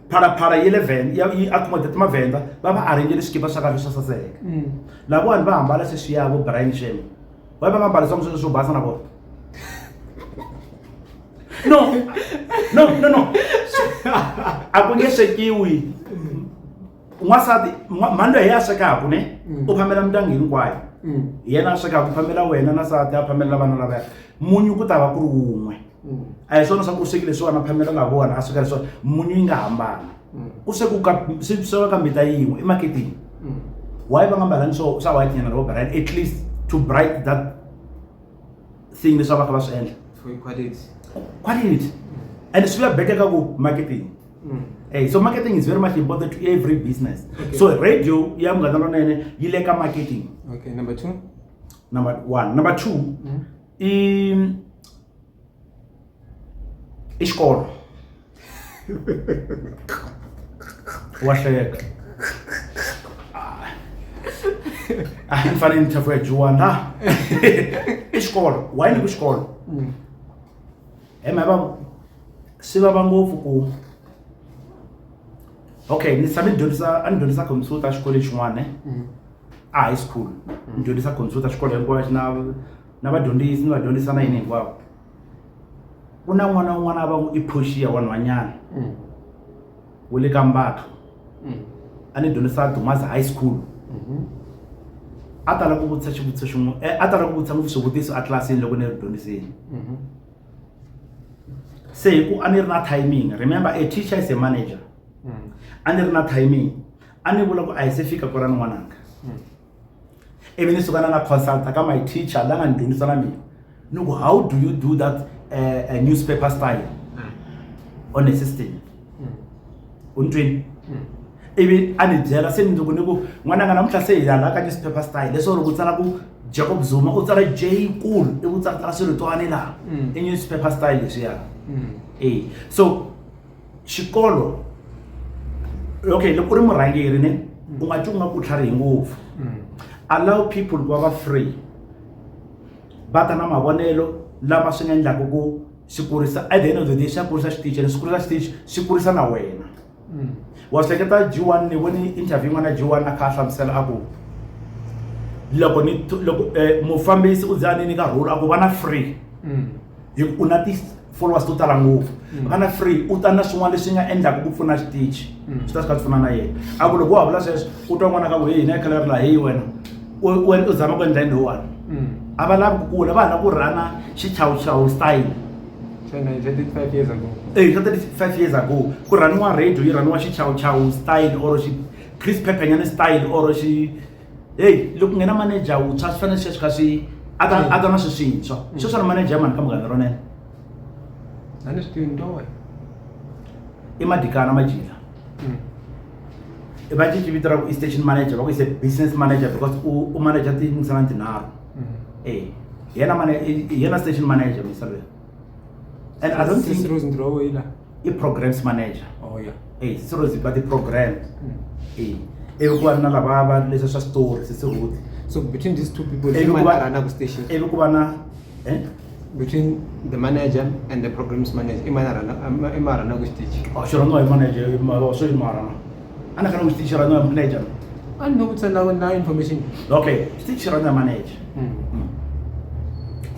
phalaphala yi le vhen ya yi accommodate mavhenda va va arrangele swikipa swa kahle swa saseka mm. lavawani va hambala sweswi ya vo brian shem va va nga mbali swa musweswi swo basa na vona no no no no a ku nge swekiwi n'wansati mhani loyi hi ya swekaka ne mm. u phamela mindyangu hinkwayo mm. hi yena a swekaka u phamela wena na sati a phamela vana lavaya munyu ku ta va ku ri wun'we mm. a hi swona swa ku u swekile swona phamela nga vona a sweka leswona munyu yi nga hambana mm. ku sweku swi sweka ka mbita yin'we emaketeni mm. why va nga mbalani swo swa white nyana ro bright at least to bright that thing leswi va kha va swi endla quality quality and swi ya better ka ku marketing Hey, so marketing is very much important to every business. Okay. So radio ya mngana lonene yi le ka marketing. Okay, number 2. Number 1, number 2. Mm -hmm. i i xikolo wa hleka a hi fane ni tlhafu ya dyiwa na i xikolo wa yini ku xikolo he ma va swi vava ngopfu ku okay ni tshame ni dyondzisa a ni dyondzisa computer xikolweni xin'wana ne. a high school mm. ni dyondzisa computer xikolo hinkwayo xi na na vadyondzisi ni vadyondzisa na yini hinkwavo ku na n'wana un'wana va n'wi i phoxiya wanhwanyana mm. wu le ka mbatho mm. a ni dyondzisa dumazi high school mm-hmm. a tala ku vutisa xivutiso xin'we eh, a tala ku vutisa ngopfu swivutiso etlilasini loko ni ri dyondzisini mm-hmm. se hi ku a ni ri na timing remember a teacher is a manager a ni ri na timing a ni vula ku a hi se fika ku ra ni n'wananga hmm. ivi ni suka na na consulta ka my teacher la nga ni dyondzisa na mina ni ku how do you do that uh, newspaper style hmm. on a system hmm. u ni twini ivi a ni byela se mindzuku ni ku n'wananga namuntlha se hi yala ka newspaper style leswo ri ku tsala ku jacob zuma u tsala j kulu ivi u tsalatsala swiritoane laha i newspaper style leswiya e so xikolo okay loko u ri murhangeri ne u nga twi u nga ku tlharihi ngopfu mm. allow people ku va va free va ta na mavonelo lama swi nga endlaka ku swi kurisa at the end of the day swi ya kurisa xitichi and swi kurisa xitichi swi kurisa na wena mm. wa swi hleketa g one ni voni interview yin'wana g one a kha a hlamusela a ku loko ni loko eh, mufambisi u za ni nyika rhulu a ku va na free mm. hi ku u na ti followers to tala ngopfu mm. nga na free u ta na swin'wana leswi nga endlaka ku pfuna xitichi mm. swi ta swi ka pfuna na yena a ku loko wa vula sweswo u twa n'wana ka ku heyi na khala ri laha heyi wena u zama ku endla yini lowani mm. a va lavi ku kula va ha lava ku rhana xichawuchawu style eyi swa 35 years ago ku rhaniwa radio yi rhaniwa xichawuchawu style or xi chris peppenyane style or xi heyi loko nghena manager wuntshwa swi fanele sweswi kha swi a ta a ta na swiswintshwa mm. sweswi ri manager mani ka munghana ronene a ni swi tivi ni towe i madikana majila mm. va cinci vito ra ku i station manager va ku ise business manager because u manager tingisana tinharhu mm. e hi yena hi yena station manager misalweni and i don't think rose ndrowo ila i programs manager oh yeah hey eh, rose but the program mm. hey eh, evi ku va na lava va leswi swa story sisi ruth so between these two people evi ku va na ku station evi ku va na eh between the manager and the programs manager i mana rana i ma rana ku station oh sure no i manager i ma so i ma rana ana kana xitichi ra n'wa manager a ni no vutisa na na information okay xitichi ra n'wa manager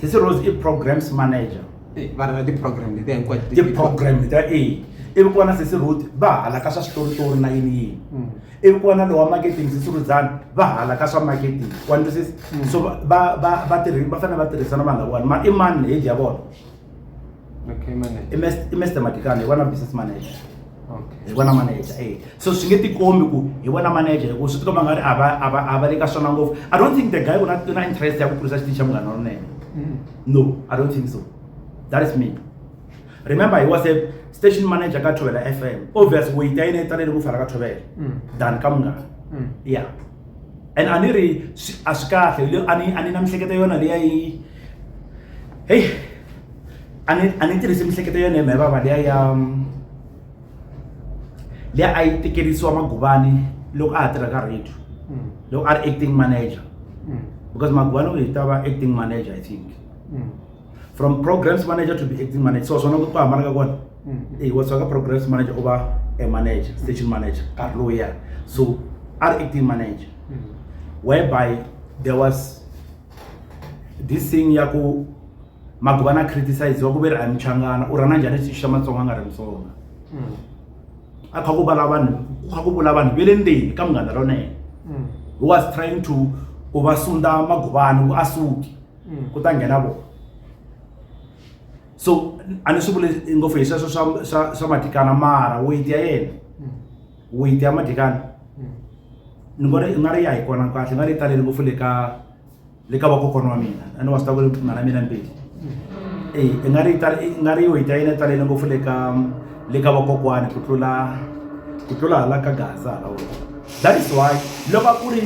sisi rose i programs manager Eh, va ri na ti-program letiya hinkwato ti- ti-program ta a ivi ku va na sisi ruth va hala ka swa switoritori na yini yini Mm. ivi ku va na lowa marketing sisi rudzani va hala ka swa marketing wa ntwisisa so va- va va va tirhi va fanele va tirhisana vanhu lavawani ma i mani ni heji ya vona okay manager i mr matikana hi vona business manager hi vona manager e so swi nge tikombi ku hi vona manager hikuva swi tikomba nga ri a va le ka swona ngopfu i don't think the guy una na interest ya ku kurisa xitichi xa munghana wa nene mm. no i don't think so that is me remember he was a station manager ka thovela f m obvious weyita ta yina yi talele ku fana ka thovela mm. than ka munghana mm. ya and a ni ri a swi kahle a ni na mihleketa yona leyi a yi heyi a ni a ni tirhisi miehleketo ya yena vava liya ya liya a yi tekerisiwa maguvani loko a ha tirha ka radio mm. loko a ri acting manager mm. because maguvani u yi ta va acting manager i think mm. from programs manager to be acting manager so swona ku ku hambana ka kona e wa ka programs manager u va a manager station manager nkarhi lowu ya so a ri acting manager whereby there was this thing ya ku maguvana criticize wa ku ve ri a muchangana u rhana njhani xi xa matsonga a nga ri mutsonga hmm. a kha ku vala vanhu ku kha ku vula vanhu ve le ndzeni ka munghana rona yena hmm. he was trying to ku va sunda maguvana ku a suki hmm. ku ta nghena vona so a ni swi vule ngopfu hi sweswo swa swa swa matikana mara weyiti ya yena weyiti ya madlekani hmm. ni ngo ri nga ri ya hi kona kahle nga ri talele ngopfu le ka le ka vakokwana wa mina a ni wa swi ta ku ri mhana mina mbili hmm. e i nga ri nga ri weyiti ya yena yi talele ngopfu le ka le ka vakokwani ku tlula ku tlula hala ka gaza hala wena that is why loko a ku ri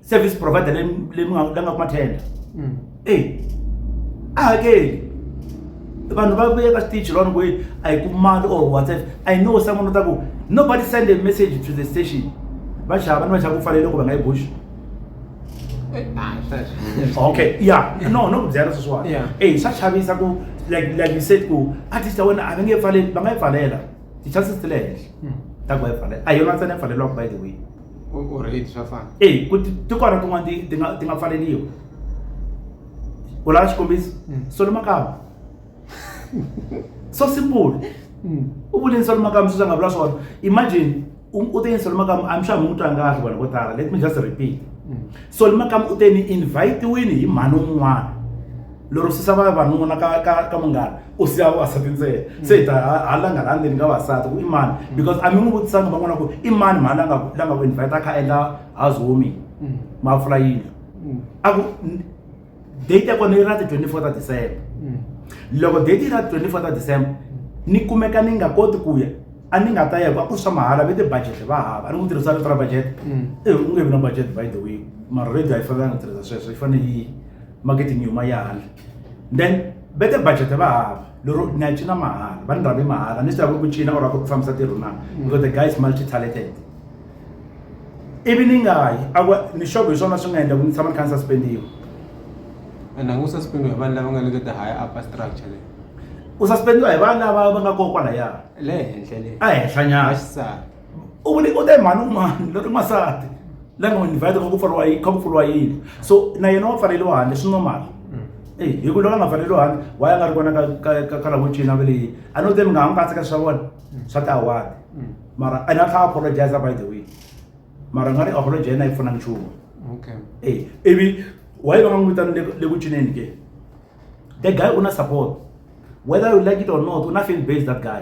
service provider leyi leyi mi nga la nga kuma tender Mm. e a hakeli vanhu va vuye ka stage lona ku yi a yi ku mali or whatsapp i know someone u ta ku nobody send a message to the station va xava ni va xava ku fanele ku va nga yi bush Eh, ah, sweswo. okay yeah no no ku byela sweswiwani Yeah. e swa chavisa ku like like you said ku artist ya wena a va nge pfaleli va nga yi pfalela ti-chances ti le henhla Mm. ta ku va yi pfalela a hi yona ntsena yi pfaleliwaka by the way u rate swa fana eyi ku tikona tin'wana ti ti nga ti nga pfaleliwa u lava xikombiso mm. solo makava so simple mm. u vuleni solo makava swi swa nga vula swona imagine u te yini solo makava i'm sure mi n'wi twa ngahli vanhu vo tala let me just repeat mm. solo makava u te ni invite-wini hi mhani un'wana lero susa va vanuna ka ka ka munghana u siya vavasati ntsena mm. se hi ta ha langa la ndzeni ka vavasati ku i mani mm. because a mi n'wi vutisanga van'wana ku i mani mhani la nga la nga ku invite a kha endla house warming mm. ma pfula yindlu a ku date ya kona yi ra ti-twenty four ta december loko date yi ra ti-twenty four ta december ni kumeka ni nga koti ku ya a ni nga ta ya va ku swa mahala ve ti-budget va hava a ni ku tirhisa rito ra budget e u nge vi na budget by the way mara radio a yi fanelanga tirhisa sweswo yi fanele yi marketing yuma ya hala then va te budget va hava lero na yi cina mahala va ni rhambi mahala ni swi lava ku cina or a ku ri ku fambisa tirho na mm. because the guy is multi talented ivi ni nga yi a ni xogo hi swona swi nga endla ku ni tshama ni kha ni suspendiwa and a ngu suspendiwa hi vanhu lava nga le ka ti-higher upper structure leyi u suspendiwa hi vanhu lava va nga kokwalaya le henhla le a henhlanyana u vule u te mhani un'wana lori n'wansati la nga n'wi invite kha ku pfuriwa yi kha ku pfuriwa yini so na yena wa pfaleliwa handle swi normal e hi ku loko a nga pfaleliwa handle wa ya nga ri kona ka ka ka ka lavo cina ve leyi a no te mi nga ha n'wi katseka swa vona swa tiawadi mara a na tlha apologize by the way mara nga ri apology yena yi pfuna nchumu okay e ivi wa yi va nga n'wi vitani le- le ku cineni ke the guy u na support whether you like it or not u na fan base that guy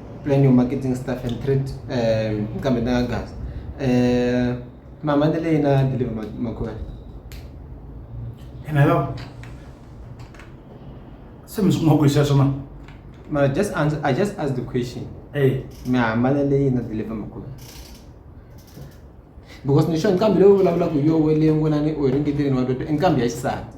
plan your marketing staff and treat um kambe na gas um mama ni leyi na deliver ma- makhwela ene yo se mi swi kuma ku hi sweswo ma ma just answer i just asked the question e mi hambana leyi na deliver makhwela because ni sure nqambi leyi u vulavulaka hi yo we leyi ngona ni u yi ringeteleni wa twa nqambi ya xisati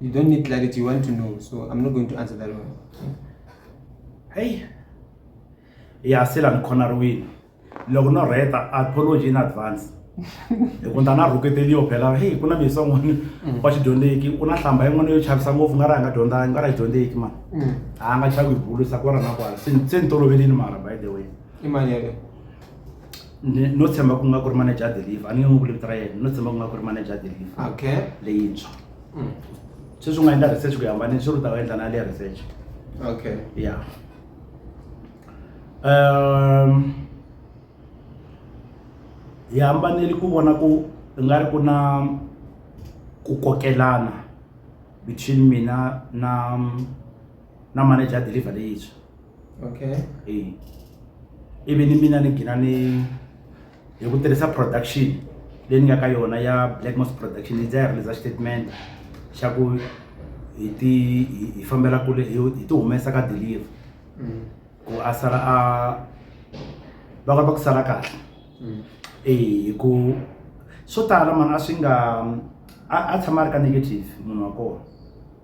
You don't need clarity, you want to know. So I'm not going to answer that one. Hey. Yeah, still I'm cornering. Loko no reta apology in advance. loko ndana rhuketeliyo phela heyi ku na misa n'wana mm. wa xidyondzeki u na hlamba yin'wana yo chavisa ngopfu nga ri a nga dyondzangi nga ri a dyondzeki mani mm. a nga chavi hi bulu sa kwala na kwala se ni tolovelini mara by the way i mali yaleyo no tshemba ku nga ku ri manager ya deliver a ni nge n'wi vuli vito ra yena no tshemba ku nga ku ri manager ya deliver okay leyintshwa mm. sweswi u nga endla research ku yambane swi ri u ta va endla na leya research okay ya um hi hambaneli ku vona ku nga ri ku na ku kokelana between mina na na manager deliver leyintshwa okay e ivi ni mina ni gina ni hi ku tirhisa production leyi ni nga ka yona ya blackmos production yi dza yi releasa statement xa ku hi ti hi fambela kule hi ti humesa ka deliver mm. ku a sala a va kota ku sala kahle mm. e hi ku swo tala mani a swi nga a tshama a ri ka negative munhu wa kona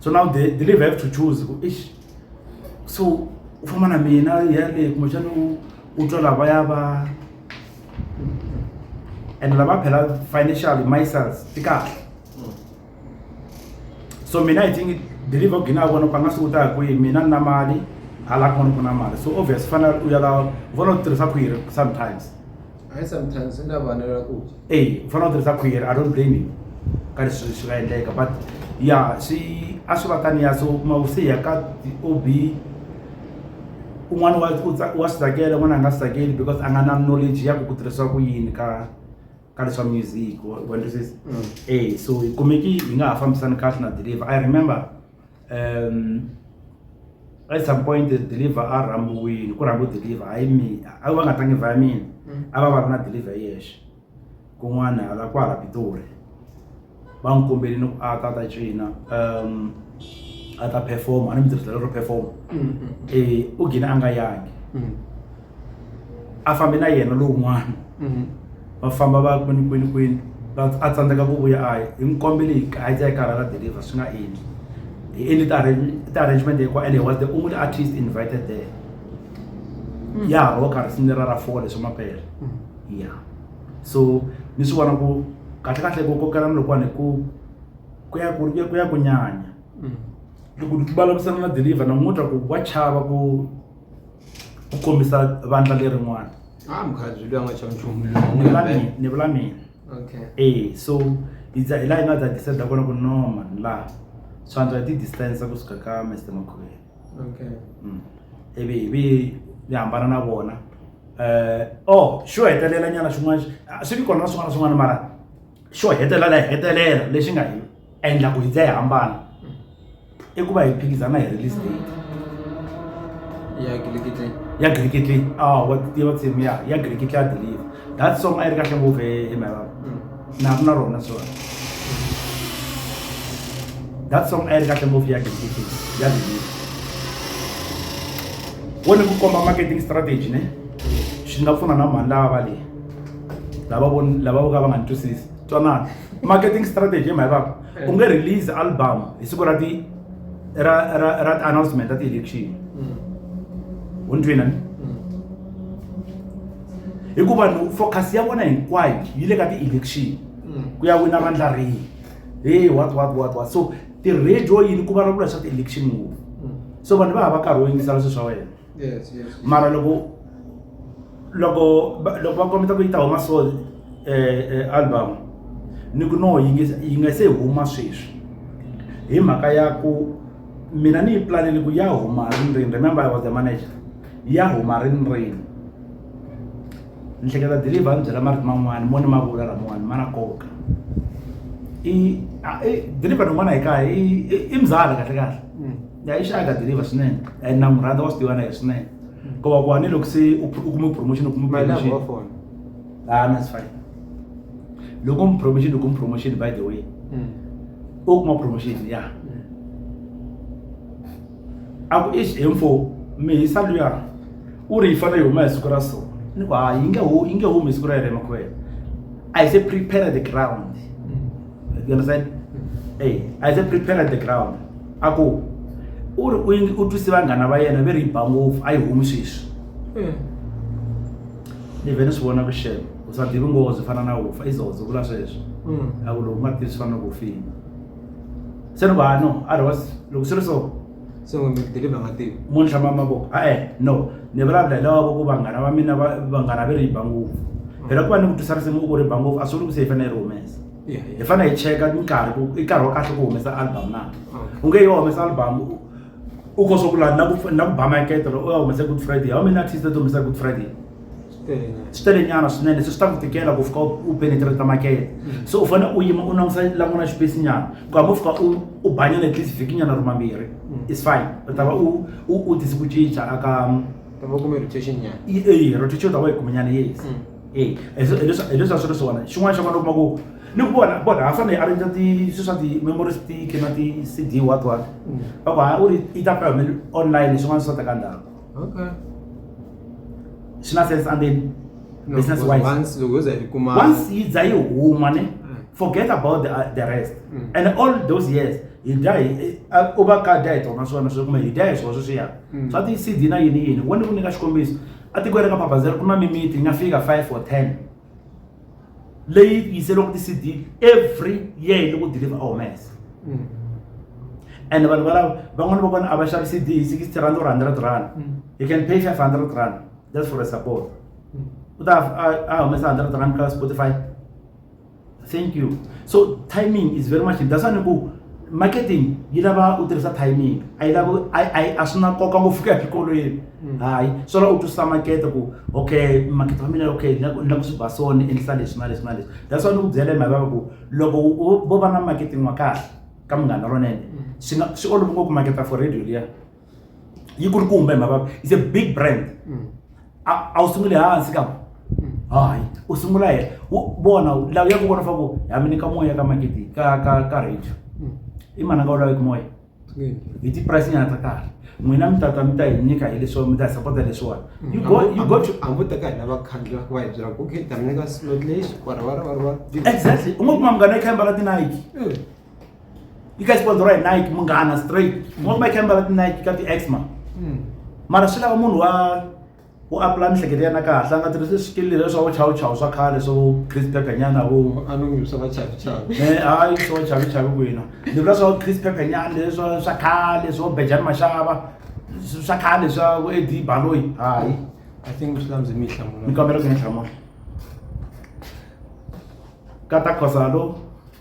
so now the deliver have to choose ku ish so u famba na mina yale kumbexana u u twa lava ya va and lava phela financially mysels ti kahle so mina i think deliver ku gina vona ku a nga swi kutaka kwihi mina ni na mali hala kun'wana ku na mali so obvious fanele u ya la vona u tirhisa khwiri sometimes I sometimes swi nga vanela ku dya eyi u fanele u tirhisa khwiri i don't blame you ka leswi swi nga endleka but ya swi a swi va taniya so u kuma u se ya ka o b un'wana wa u wa swi tsakela un'wana a nga swi tsakeli because a nga na knowledge ya ku ku tirhisiwa ku yini ka ka leswa music wa twisisa eyi so hi kumeki hi nga ha fambisani kahle na deliver i remember. um at some point the deliver a rhambiwile ku rhambi deliver hayi mina a va nga tangi vhaya mina mm. a va va ri na deliver yexe kun'wana hala kwala pitori va n'wi kombelini ku a ta ta cina um a ta performa a ni mi tirhisela ro performa mm, mm, e u gina a nga yangi a fambi na yena lowun'wana mhm. va famba va kwini kwini kwini a tsandzeka ku vuya a hi n'wi kombele hi a yi karhala deliver swi nga endli hi endli ti-arrangement hinkwa and he was the only artist invited there hmm. ya ha roka risimu lera ra four leswi mapele hmm. ya so ni swi vona ku kahle kahle ku kokelana lokuwani ku ku ya ku ya ku nyanya hmm. loko ti vulavurisana na deliver na n'wi twa ku wa chava ku ku kombisa vandla lerin'wana ah mukhalabye loyi a nga xava nchumu ni vula mina ni vula mina okay eh so hi za hi laha hi nga za decide kona ku no man la swantswa hi ti distance kusuka ka Mr Makhwele okay mm ivi hi vi hi hambana na vona eh oh xo hetelela nyana xin'wana swi vi kona na swin'wana na swin'wana mara xo hetelela hi hetelela lexi nga hi endla ku hi ndza yi hambana i ku va hi phikizana hi release date ya gilikitle ya gilikitle a ah, wa tiva tsimu ya ya gilikitle ya deliver that song a yi ri kahle ngopfu hi mhaka mm. na ri na rona sona that song a yi ri kahle ngopfu ya gilikitle ya deliver wo ni ku komba marketing strategy ne swi nga pfuna na mhani lava va leyi lava lava vo ka va nga ni twisisi twanana marketing strategy hi mhaka ku eh. u nge release album hi siku ra ti ra ra ra ti announcement ta ti election mm. u ni twina ni mm. hikuva ni focus ya vona hinkwayo yi le ka ti election mm. ku ya wina vandla rihi hey what what what what so ti-radio yini ku vulavula swa ti-election ngopfu so vanhu va ha va karhi wo yingisela swilo swa wena yes, yes, yes. mara loko loko loko va kombeta ku yi ta huma so um album ni ku no yi nge yi nga se huma sweswi hi mhaka ya ku mina ni yi planele ku ya huma rini rini remember i was the manager ya huma rini rini ni hleketa deliver a ni byela marito man'wani mo ni ma vula laman'wani ma na koka i deliver rin'wana hi kaya i mzala kahle kahle ya isha akadiriva swinene and na n'wi rhandza wa swi tiva na yena swinene ko va ku a ni loko se u u kume promotion u kume mali lava promotion wa fona ah no it's fine loko mi promotion loko mi promotion by the way Mm. u kuma promotion ya Mm. a ku ish info mi hisa luya u ri yi fanele yi huma hi siku ra so ni ku ha yi nge hu yi nge humi hi siku ra yena emakhwela i say prepare the ground Mm. you understand Mm. hey i say prepare the ground a ku u ri u twise vanghana va yena ve ri yi ba ngopfu a yi humi sweswi hmm. ni vhe ni swi vona vuxelo u sa divi ngozi fana na hufa i zozo vula sweswo hmm. a ku loko nga tivi swi fana na ku fini se ni va no a ri was loko swi ri so se n'we mi deliva nga tivi munhu hlama mavoko a e no ni vulavula hi lava ku vanghana va mina vanghana ve ri yi ba ngopfu phela ku va ni ku twisa risimu u ku ri ba ngopfu a swi vuli ku se yi fanele yi ri humesa hi fanele hi cheka nkarhi ku i nkarhi wa kahle ku humesa album na u nge yo humesa album u ko swa ku laha na ku na ku ba makete loko u ya humesa good friday how many artists to humesa good friday swi tele nyana swinene se swi ta ku tikela ku fika u penetrate makete mm. so u fanele u yima u langusa languna xipesi nyana ku hambi u fika u u banyana at least vhiki nyana ri mambirhi mm. is fine u ta va u u tise ku cinca aka ta va kume rotation nyana eyi rotation u ta va yi kume nyana yes mm. e leswi a swi ri swona xin'wana xa kona u kuma ku ni ku vona vona ha fanele a rindza ti swi swa ti-memory stick na ti-c d what what va ku ha u ri yi ta pfa humele online swin'wana swi swa teka ndhawu swi na sense and then business wise once yi za yi huma ne forget about the, uh, the rest mm. and all those years hi dya hi u va ka dya hi tona swona swi kuma hi dya hi swona sweswiya swa ti-c d na yini yini wena ku nyika xikombiso etikweni ra ka babazela ku na mimiti yi nga fika five or ten leyi yiseriwaka ti-cd every year yi le ku deliver omese mm. and vanhu valava van'wana va kona a va xavi cd hi sixty rand or hundred rand mm. you can pay five hundred rand just for a support mm. u ta a humesa hundred rand ka spotify thank you so timing is very much that's why ni ku marketing yi lava u tirhisa timing a yi lava a swi na nkoka ngopfu ku ya xikolweni mm. hayi swo la u twisisa makete ku okay makete wa mina okay ni lava ku swi ba so ni endlisa leswi na leswi na leswi that's why ni ku byela hi mhaka ku loko vo va na marketing wa kahle ka munghana lonene mm. swi nga swi olova ngopfu maketa for radio liya yi ku ri ku humba hi mavabyi is a big brand mm. a wu sunguli hansi ka mm. hayi u sungula hela vona lawa ya ku vona faku ha mi nyika moya ka maketi ka ka ka radio mm. i mananga u laveki moya hi ti-price nyana ta kahle n'wina mi tata mi ta hi nyika hi leswiwa mi ta hi sapota leswiwani exactly u nga kuma munghana i khemba ra tinike yi ka sponsora hi nike munghana straight ngoma yi khamba ti nike ka ti exma hmm. mara swi lava munhu wa u apula mihleketo ya na kahle a nga tirhisi swikili leswi swa vuchawuchawu swa khale swo chris pepper nyana vo a no ngi swa vachavichavi e eh, hayi swo vachavichavi kwina ni vula swa chris pepper nyana leswa swa khale swo bejani maxava swa khale swa vo edi baloyi hayi i think swi landzi mi yi hlamula ni kombela ku ni hlamula kata khosalo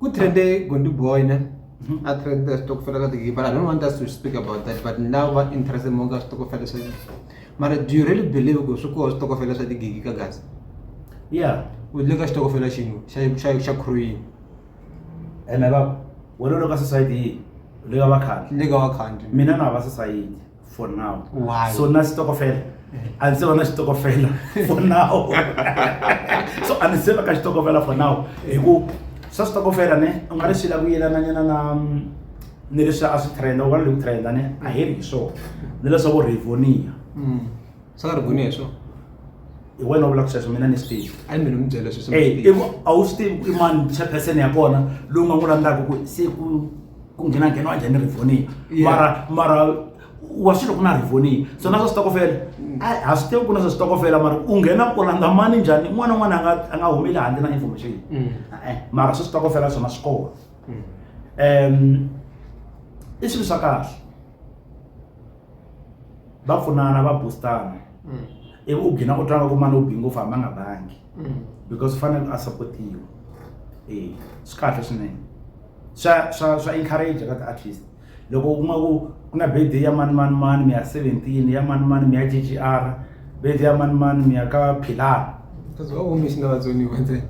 Ku trend-e Gondy boy ne a trend switokofela ka ti-gibber I don't want us to speak about that but ni lava ku va interested more ka switokofela swa mara do you really believe ku swi koho switokofela swa ti-gigi ka Gaza ya u le ka xitokofela xin'we xa xa xa crew yini ene va wena u le ka society yihi u le ka va khale ni le ka wa country mina na va society. for now Why? so na xitokofela a ndzi se va na xitokofela for now so a ndzi se va ka xitokofela for now hi ku swa switokofela ne u nga ri swi la ku yelananyana na ni leswi a swi trenda u va ni le ku trenda ne a hi ri hi swona ni leswa vo rivonia Mm. swi nga ri vuni hi swona hi wena u vulaka sweswo mina ni swi tivi a ni mi mi byela sweswo a wu swi tivi ku i mani chairperson ya kona lowu nga n'wi landzaka ku se ku ku nghena nghena wa njhani rivoniya mara mara wa swilo ku na rivoniya so na swa switokofela mm. a swi tivi ku na swa switokofela mara u nghena u landza mani njhani n'wana n'wana a nga a nga humeli handle na information mm. e-e mara swi switokofela swona swi kona um i swilo swa kahle va pfunana va boostana mm. ivi u gina u twanga ku mani u bi ngopfu hambi a nga bangi mm. because u fanele a supportiwa e swi kahle swinene swa swa swa encourage ka ti-artist loko u kuma ku ku na birthday ya mani mani mani mi ya seventeen ya mani mani mi ya g g r Bedi ya mani mani mi ya ka Philana. Because why won't miss now only one time?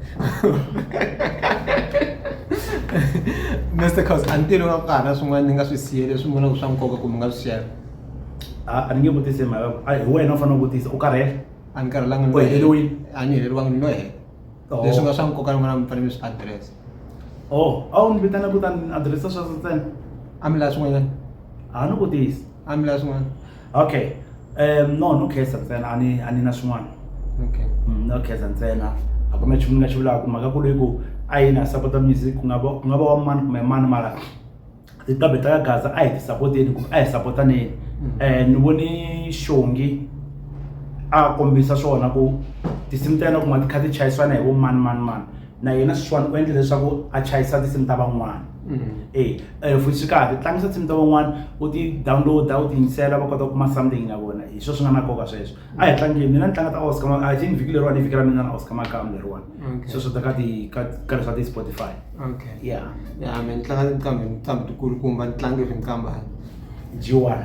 Mr. Cos, until u nga ku karhi na swin'wana ni nga swi siye leswi mi vonaka swa nkoka kumbe nga swi share. A ni nge vutisi hi mhaka a hi wena u fanele u vutisa u karhele. A ni karhelanga U heleriwile. A ni heleriwanga ni lo hela. Oh. Leswi nga swa nkoka ni vona mi fanele mi swi address. Oh, a wu ni vitana ku ta ni address swa ntsena. A mi la swin'wanyana? A ni vutisi. A mi la swin'wana? okay um no no khesa ntsena a ni a ni na swin'wana okay Mm, no khesa ntsena a ku na nchumu ni nga xi vulaka mhaka ku ri ku a yi na sapota music ku nga va ku nga va wa mani kumbe mani mara tinqambi ta ka gaza a hi ti sapoteni kumbe a hi sapotaneni um ni vone xongi a kombisa swona ku tinsimu ta yena kuma ti kha ti chayisana hi vo mani mani mani na yena sweswiwani u endle leswaku a chayisa tinsimu ta van'wana mm-hmm. e eh, futhi swi kahle tlangisa tinsimu ta van'wana u ti download-a u ti yingisela va kota ku kuma something na vona hi swo swi nga na nkoka sweswo a hi tlangeni mina ni tlanga ta oscar i think vhiki leriwani i vhiki ra mina na oscar makamu leriwani sweswo ta ka ti ka ka leswa ti spotify okay ya ya mina ni tlanga tinqambi tinqambi tikulukumba ni tlange ri nqambani jiwani